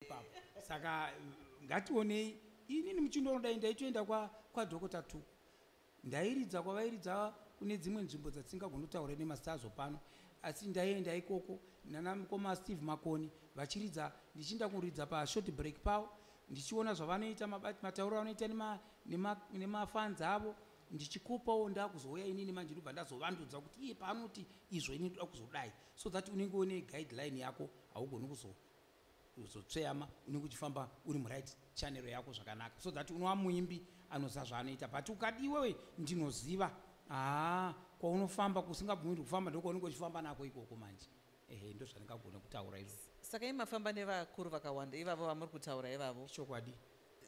ipapo saka ngationei inini muchindoro dai ndaitoenda kwadokota tuku ndairidza kwavairidza kune dzimwe nzvimbo dzatingagonotaura nemastazo pano asi ndaienda ikoko nana mukoma steve makoni vachiridza ndichiinda kuridza pashort break pavo ndichiona zvavanoita matauro avanoita nemafanzi avo ndichikopawo ndakuzouya inini manje ndobva ndazovandudza kuti iye paanoti izvo ini ndoda kuzodai so that unenge une guideline yako haugoni kuzoa uzotsveyama unenge uchifamba uri muright chanero yako zvakanaka so that unova muimbi anoziva zvaanoita but ukadi iwewe ndinoziva haa kwaunofamba kusingabvumirwi kufamba ndokwaunenge uchifamba nako ikoko manje ehe ndozvandingagona kutaura izvo saka i mafamba nevakuru vakawanda ivavo vamuri kutaura ivavo chokwadi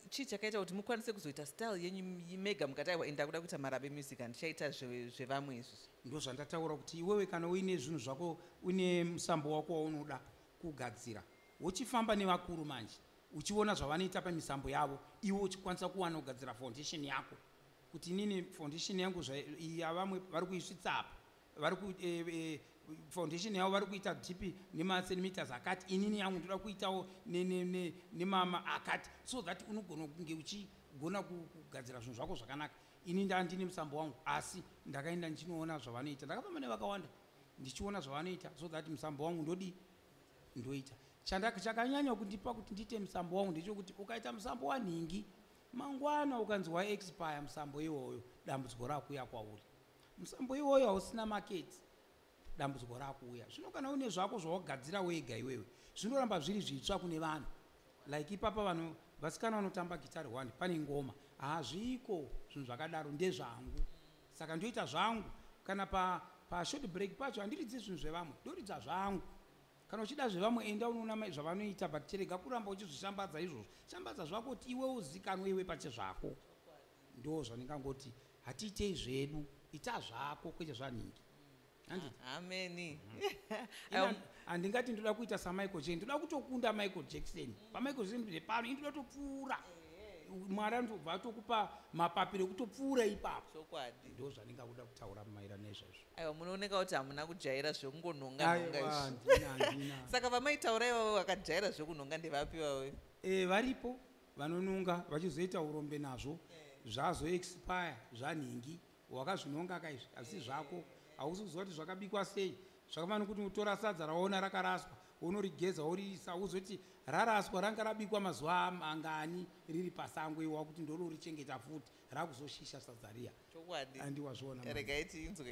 chii chakaita kuti mukwanise kuzoita style yenyu mega mukati aiwa enda kuda kuita marabe music handichaita zvevamwe izvi ndozvandataura kuti iwewe kana uine zvinhu zvako une musambo wako waunoda kugadzira wochifamba nevakuru manje uchiona zvavanoita pamisambo yavo iwe uchikwanisa kuwana kugadzira foundation yako kuti inini foundation yangu yavamwe vari kuisvitsa apa vari eh, eh, foundation yavo vari kuita dp nemacentimeters akati inini yangu ndoda kuitawo nemama akati so that unogona kunge uchigona kugadzira zvinhu zvako zvakanaka ini ndandine musambo wangu asi ndakaenda ndichinoona zvavanoita ndakafamba nevakawanda ndichiona zvavanoita so that musambo wangu ndodii ndoita chakanyanya kundipa kuti ndiite musambo wangu ndechokuti ukaita musambo wanhingi mangwana ukanzi waexpire musambo iwoyo dambudziko rakuuya kwauri musambo iwoyo hausina maketi dambudziko rakuuya zvino kana une zvako zvawagadzira wega iwewe zvinoramba zviri zvitsva kune vanhu like ipapa vanhu vasikana vanotamba gitari one pane ngoma hazviko zvinhu zvakadaro ndezvangu saka ndoita zvangu kana pa pa short break pacho handiridzi zvinhu zvevamwe ndoridza zvangu kana uchida zvevamwe enda unoona zvavanoita but chirega kuramba uchizvishambadza izvozvo shambadza zvako kuti iwe uzikanwe iwe pache zvako ndo zvandingangoti hatiitei zvedu ita zvako kwete zvanhingi handi ameni um, handingati ndoda kuita samichael jackson ndoda kutokunda michael jackson pamichael jackson ndiri pano indoda topfuura mwari anobva atokupa mapapiro ekutopfuura ipapo chokwadi ndo zvanenge akuda kutaura maira nezvezvo aiwa munooneka kuti hamuna kujaira zvekungonhongaisaka vamaitaura ivavo vakajaira zvekunhonga ndevapi vavo eh, varipo vanononga vachizoita urombe nazvo eh. zvazoexpire zvanhingi Wakazvinonga ka izvi asi zvako hausi kuziva kuti zvakabikwa sei zvakafanira kuti utora sadza rawaona rakaraswa wonorigeza woriisa wozoti raraswa ranga rabikwa mazuva mangani riri pasango iwe wakuti ndororichengeta futi rakuzoshisha sadza riya chokwadi andi wazviona regai tiinzwe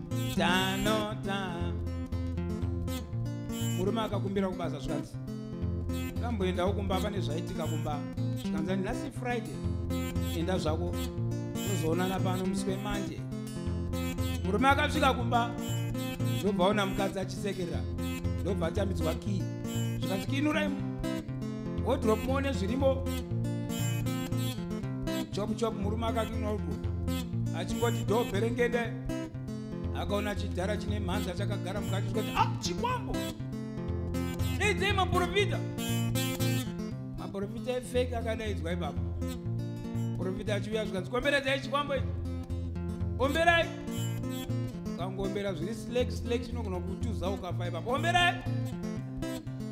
tanota murume akakumbira kubasa zvikanzi kamboendawo kumba pane zvaitika kumba zvikanzi nhasi friday enda zvako tozoonana pano musi wemanje murume akasvika kumba ndobva ona mukadzi achisekerera ndobva atambidzwa kii zvikanzi kiinurai wodrop muone zvirimo chopu chopu murume akakinwa udwo achingoti doo bherengende akaona chidhara chine mhanza chakagara mukati chikoti a ah, chikwambo daidzai maprofita maprofita efeki akadaidzwa ipapo profita achiuya zvikanzi komberedzai chikwambo ichi omberai ukangombera zviri slek slek chinogona kutuza ukafa ipapo omberai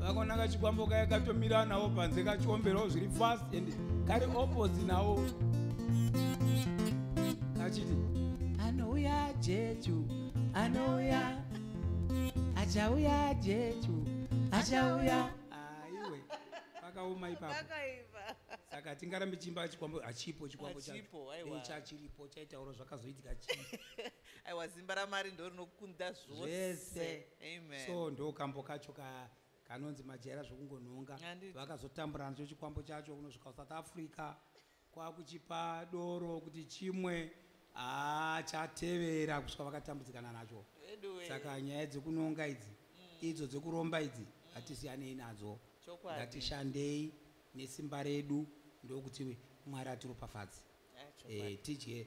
vakona kachikwambo kaya katomira nawo panze kachiomberawo zviri fast and kari oposi nawo kachiti anouya jechu anouya achauya jechu achauya aiwe pakaoma ipapo saka tingarambe chimba chikwambo hachipo chikwambo chacho chachiripo chaitauro zvakazoitika chii aiwa zimba ramari ndo rinokunda zvose amen so ndo kambo kacho ka kanonzi majaira zvekungonhonga vakazotambura nacho chikwambo chacho kunosvika kusouth africa kwakuchipa doro kuti chimwe haa chatevera kusvika vakatambudzikana nacho saka nyaya dzekunonga idzi mm. idzo dzekuromba idzi mm. hatisiyanei nadzo ngatishandei nesimba redu ndokuti mwari atiropafadzi eh, tidye